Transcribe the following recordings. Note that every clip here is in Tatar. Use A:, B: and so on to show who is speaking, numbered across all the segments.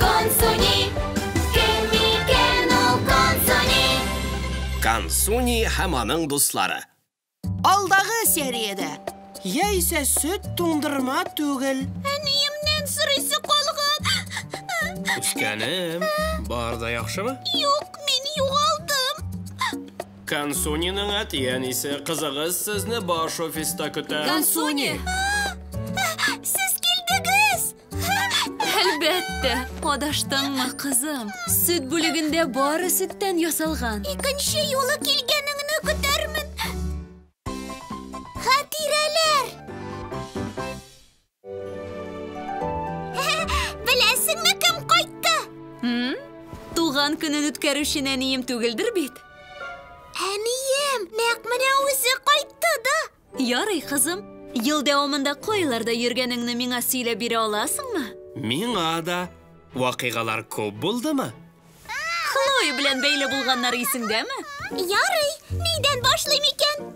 A: Консуни, кем микән ул Консуни? Консуни һәм аның дуслары. Алдагы сериядә. Яисә сөт туңдырма түгел. Әниемнән сорыйсы калган. Үскәнем, бар да яхшымы? Юк, мин югалдым. Консуниның әти-әнисе, кызыгыз сезне баш офиста көтә. Консуни! Сез килдегез! Әлбәттә, адаштыңмы, кызым? Сөт бүлегендә бары сөттән ясалган. Икенче юлы килгәнеңне көтәрмен. Хатирәләр! Беләсеңме, кем кайтты? Хм? Туган көнен үткәрүче нәнием түгелдер бит? Әнием, нәкъ менә үзе кайтты да. Ярый, кызым. Ел дәвамында кайларда йөргәнеңне миңа сөйләп бирә аласыңмы? Миңа да. Вакыйгалар күп булдымы? Хлоя белән бәйле булганнар исеңдәме? Ярый, нидән башлыйм икән?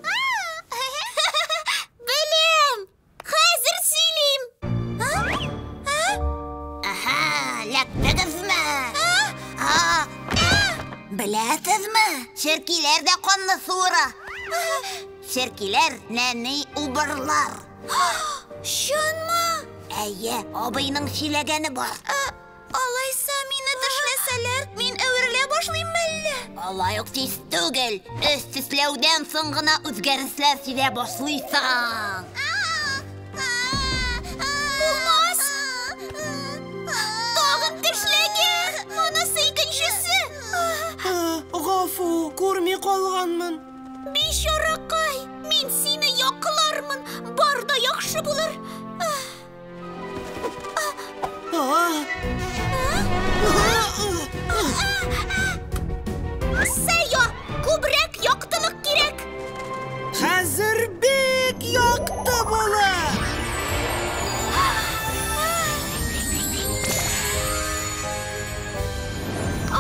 A: Беләм! Хәзер сөйлим! Аһа, ләктегезме? Беләсезме? Черкиләр дә канны суыра. Черкиләр, нәни убырлар. Чынмы? Әйе, абыйның сөйләгәне бар. Ә, алайса мине тешләсәләр, мин әверелә башлыйм мәллә? Алай ук тиз түгел. Өс тешләүдән соң гына үзгәрешләр сизә башлыйсың. Булмас! Тагын тешләгез! Монысы икенчесе! Гафу, күрми калганмын. Бичаракай, мин сине яклармын, бар да яхшы булыр. Сәйо, күбрәк яктылык кирәк. Хәзер бик якты булыр.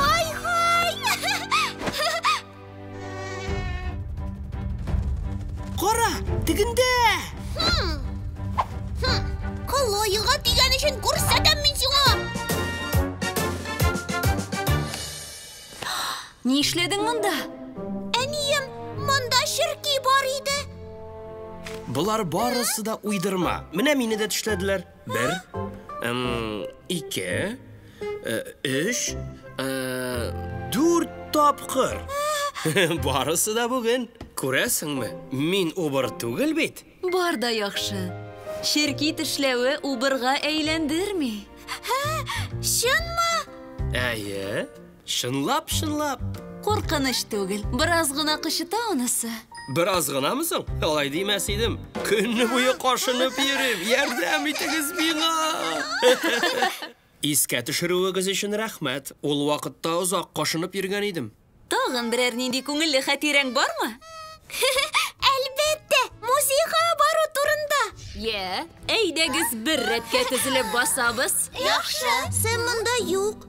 A: Ай-һай! Кара, тегендә! Колоега дигән өчен күрсәтәм мин сиңа! Ни эшләдең монда? Әнием, монда черки бар иде. Болар барысы да уйдырма. Менә мине дә төшләделәр. Бер, ике, өч, дүрт тапкыр. Барысы да бүген. Күрәсеңме, мин убыр түгел бит. Бар да яхшы. Черки тешләве убырга әйләндерми. Чынмы? Әйе. Чынлап, чынлап. Куркыныч түгел, бераз гына кычыта анысы. Бераз гынамы соң? Алай димәс идем. Көнне буе кашынып йөрим. Ярдәм итегез миңа! Искә төшерүегез өчен рәхмәт. Ул вакытта озак кашынып йөргән идем. Тагын берәр нинди күңелле хатирәң бармы? Әлбәттә, музейга бару турында. Йә, әйдәгез бер рәткә тезелеп басабыз. Яхшы. Сэм монда юк.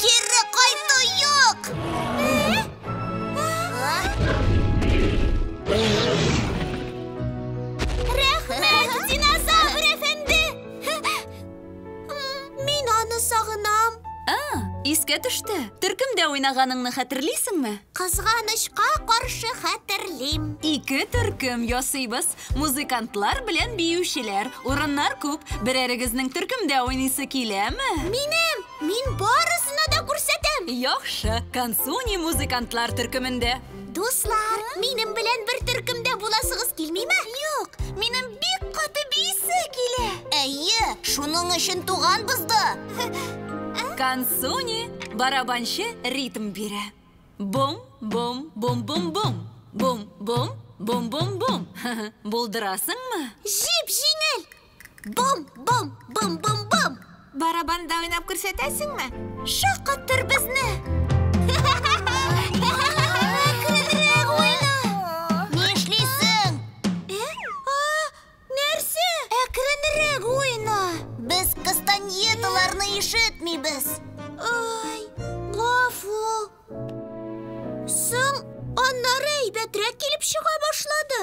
A: Кире кайту юк! Рәхмәт, динозавр әфәнде! Мин аны сагынам. А, искә төште. Төркемдә уйнаганыңны хәтерлисеңме? Кызганычка каршы хәтерлим. Ике төркем ясыйбыз. Музыкантлар белән биючеләр, урыннар күп. Берәрегезнең төркемдә уйныйсы киләме? Минем! Мин барысына да күрсәтәм! Яхшы, Кансуни музыкантлар төркемендә. Дуслар, минем белән бер төркемдә буласыгыз килмиме? Юк, минем бик каты биисе килә. Әйе, шуның өчен туганбыз да. Кансуни, барабанчы ритм бирә. Бум, бум, бум, бум, бум. Бум, бум, бум, бум, бум. Булдырасыңмы? Җип җиңел. Бум, бум, бум, бум, бум. Барабанда уйнап күрсәтәсеңме? Шаккаттыр безне. Әкренрәк уйна. Нишлисең? Ә? А! Нәрсә? Әкренрәк уйна. Без кастаньеталарны ишетмибез. Ай, гафу. Соң, аннары әйбәтрәк килеп чыга башлады.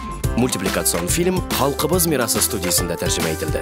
A: Мультипликацион фильм Халкыбыз мирасы студиясендә тәрҗемә ителде.